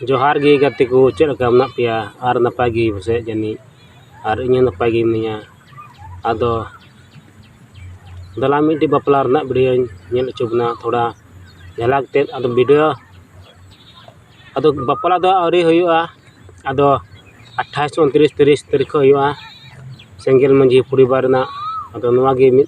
ᱡᱚᱦᱟᱨ ᱜᱮ ᱜᱟᱛᱮ ᱠᱚ ᱪᱮᱫ ᱞᱮᱠᱟ ᱢᱮᱱᱟᱜ ᱯᱮᱭᱟ ᱟᱨ ᱱᱟᱯᱟᱭ ᱜᱮ ᱯᱟᱥᱮᱡ ᱡᱟᱹᱱᱤᱡ ᱟᱨ ᱤᱧ ᱦᱚᱸ ᱱᱟᱯᱟᱭ ᱜᱮ ᱢᱤᱱᱟᱹᱧᱟ ᱟᱫᱚ ᱫᱮᱞᱟ ᱢᱤᱫᱴᱮᱡ ᱵᱟᱯᱞᱟ ᱨᱮᱱᱟᱜ ᱵᱷᱤᱰᱭᱳᱧ ᱧᱮᱞ ᱦᱚᱪᱚ ᱵᱚᱱᱟ ᱛᱷᱚᱲᱟ ᱡᱷᱟᱞᱟᱠ ᱛᱮᱫ ᱟᱫᱚ ᱵᱷᱤᱰᱭᱳ ᱟᱫᱚ ᱵᱟᱯᱞᱟ ᱫᱚ ᱟᱹᱣᱨᱤ ᱦᱩᱭᱩᱜᱼᱟ ᱟᱫᱚ ᱟᱴᱷᱟᱥ ᱩᱱᱛᱨᱤᱥ ᱛᱤᱨᱤᱥ ᱛᱟᱹᱨᱤᱠᱷ ᱠᱷᱚᱡ ᱦᱩᱭᱩᱜᱼᱟ ᱥᱮᱸᱜᱮᱞ ᱢᱟᱹᱡᱷᱤ ᱯᱚᱨᱤᱵᱟᱨ ᱨᱮᱱᱟᱜ ᱟᱫᱚ ᱱᱚᱣᱟ ᱜᱮ ᱢᱤᱫ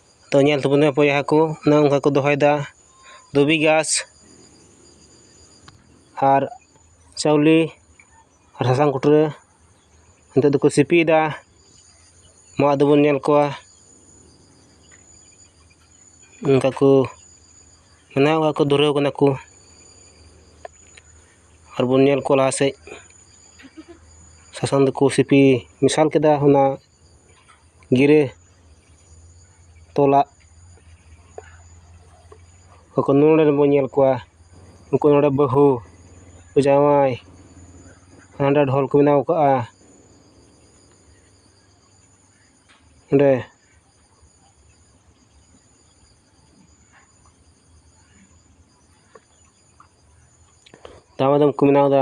ᱛᱚ ᱧᱮᱞ ᱛᱟᱵᱚᱱ ᱯᱮ ᱵᱚᱭᱦᱟ ᱠᱚ ᱚᱱᱮ ᱚᱱᱠᱟ ᱠᱚ ᱫᱚᱦᱚᱭᱮᱫᱟ ᱫᱷᱩᱵᱤ ᱜᱷᱟᱥ ᱟᱨ ᱪᱟᱣᱞᱮ ᱟᱨ ᱥᱟᱥᱟᱝ ᱠᱩᱴᱨᱟᱹ ᱱᱤᱛᱚᱜ ᱫᱚᱠᱚ ᱥᱤᱯᱤᱭᱮᱫᱟ ᱢᱟ ᱟᱫᱚ ᱵᱚᱱ ᱧᱮᱞ ᱠᱚᱣᱟ ᱚᱱᱠᱟ ᱠᱚ ᱚᱱᱮ ᱚᱱᱠᱟ ᱠᱚ ᱫᱷᱩᱨᱟᱹᱣ ᱠᱟᱱᱟ ᱠᱚ ᱟᱨ ᱵᱚᱱ ᱧᱮᱞ ᱠᱚᱣᱟ ᱞᱟᱦᱟ ᱥᱮᱫ ᱥᱟᱥᱟᱝ ᱫᱚᱠᱚ ᱥᱤᱯᱤ ᱢᱮᱥᱟᱞ ᱠᱮᱫᱟ ᱚᱱᱟ ᱜᱤᱨᱟᱹ ᱛᱚᱞᱟᱜ ᱚᱠᱚ ᱱᱚᱰᱮ ᱵᱚᱱ ᱧᱮᱞ ᱠᱚᱣᱟ ᱩᱱᱠᱩ ᱱᱚᱰᱮ ᱵᱟᱹᱦᱩ ᱩᱱᱠᱩ ᱡᱟᱶᱟᱭ ᱦᱟᱸᱰᱮ ᱰᱷᱚᱞ ᱠᱚ ᱵᱮᱱᱟᱣ ᱠᱟᱜᱼᱟ ᱚᱸᱰᱮ ᱫᱟᱢᱟᱫᱚᱢ ᱠᱚ ᱵᱮᱱᱟᱣᱫᱟ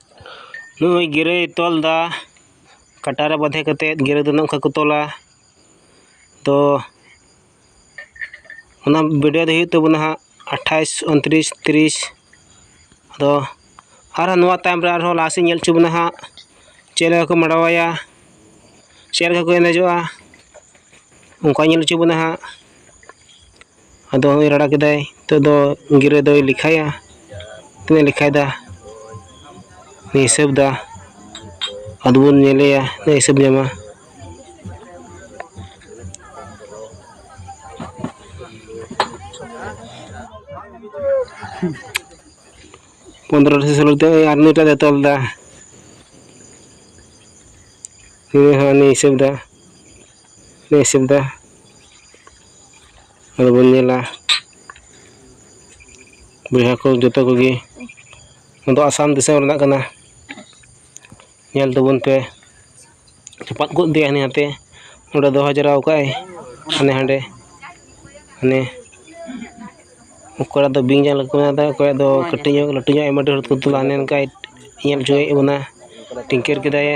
ᱱᱩᱭ ᱜᱤᱨᱟᱹᱭ ᱛᱚᱞᱫᱟ ᱠᱟᱴᱟ ᱨᱮ ᱵᱟᱫᱷᱮ ᱠᱟᱛᱮᱫ ᱜᱤᱨᱟᱹ ᱫᱚ ᱱᱚᱝᱠᱟ ᱠᱚ ᱛᱚᱞᱟ ᱛᱚ ᱚᱱᱟ ᱵᱷᱤᱰᱤᱭᱳ ᱫᱚ ᱦᱩᱭᱩᱜ ᱛᱟᱵᱚᱱᱟ ᱦᱟᱸᱜ ᱟᱴᱷᱟᱥ ᱩᱱᱛᱨᱤᱥ ᱛᱤᱨᱤᱥ ᱟᱫᱚ ᱟᱨᱦᱚᱸ ᱱᱚᱣᱟ ᱛᱟᱭᱚᱢ ᱨᱮ ᱟᱨᱦᱚᱸ ᱞᱟᱦᱟ ᱥᱮᱫ ᱧᱮᱞ ᱦᱚᱪᱚ ᱵᱚᱱᱟ ᱦᱟᱸᱜ ᱪᱮᱫ ᱞᱮᱠᱟ ᱠᱚ ᱢᱟᱰᱣᱟ ᱟᱭᱟ ᱪᱮᱫ ᱞᱮᱠᱟ ᱠᱚ ᱮᱱᱮᱡᱚᱜᱼᱟ ᱚᱱᱠᱟ ᱧᱮᱞ ᱦᱚᱪᱚ ᱵᱚᱱᱟ ᱦᱟᱸᱜ ᱟᱫᱚ ᱦᱚᱸᱜᱼᱚᱭ ᱨᱟᱲᱟ ᱠᱮᱫᱟᱭ ᱱᱤᱛᱚᱜ ᱫᱚ ᱜᱤᱨᱟᱹ ᱫᱚᱭ ᱞᱮᱠᱷᱟᱭᱟ ᱛᱤᱱᱟᱹᱜ ᱞᱮᱠᱷᱟᱭᱫᱟ ᱦᱤᱥᱟᱹᱵᱫᱟ ᱟᱫᱚ ᱵᱚᱱ ᱧᱮᱞᱮᱭᱟ ᱛᱤᱱᱟᱹᱜ ᱦᱤᱥᱟᱹᱵ ᱧᱟᱢᱟ ᱯᱚᱱᱨᱚ ᱥᱮ ᱥᱳᱞᱳ ᱛᱮ ᱟᱨ ᱱᱩᱭᱴᱟᱜ ᱫᱚ ᱛᱚᱞᱫᱟ ᱱᱩᱭ ᱦᱚᱸ ᱩᱱᱤ ᱦᱤᱥᱟᱹᱵᱫᱟ ᱞᱮ ᱦᱤᱥᱟᱹᱵ ᱮᱫᱟ ᱟᱫᱚ ᱵᱚᱱ ᱧᱮᱞᱟ ᱵᱚᱭᱦᱟ ᱠᱚ ᱡᱚᱛᱚ ᱠᱚᱜᱮ ᱱᱚᱣᱟ ᱫᱚ ᱟᱥᱟᱢ ᱫᱤᱥᱚᱢ ᱨᱮᱱᱟᱜ ᱠᱟᱱᱟ ᱧᱮᱞ ᱛᱟᱵᱚᱱ ᱯᱮ ᱪᱟᱯᱟᱫ ᱜᱚᱫ ᱤᱫᱤᱭᱟᱭ ᱦᱟᱱᱤ ᱦᱟᱱᱛᱮ ᱚᱸᱰᱮ ᱫᱚᱦᱚ ᱡᱟᱣᱨᱟ ᱟᱠᱟᱫ ᱟᱭ ᱦᱟᱱᱮ ᱦᱟᱸᱰᱮ ᱦᱟᱱᱮ ᱚᱠᱚᱭᱟᱜ ᱫᱚ ᱵᱤᱧ ᱡᱟᱝ ᱞᱮᱠᱟ ᱢᱮᱱᱟᱜᱼᱟ ᱚᱠᱚᱭᱟᱜ ᱫᱚ ᱠᱟᱹᱴᱤᱡ ᱧᱚᱜ ᱞᱟᱹᱴᱩ ᱧᱚᱜ ᱟᱭᱢᱟ ᱰᱷᱮᱨ ᱠᱚ ᱛᱩᱞᱟ ᱦᱟᱱᱮ ᱦᱟᱱᱠᱟᱭ ᱧᱮᱞ ᱦᱚᱪᱚᱭᱮᱫ ᱵᱚᱱᱟ ᱴᱤᱝᱠᱟᱹᱨ ᱠᱮᱫᱟᱭᱮ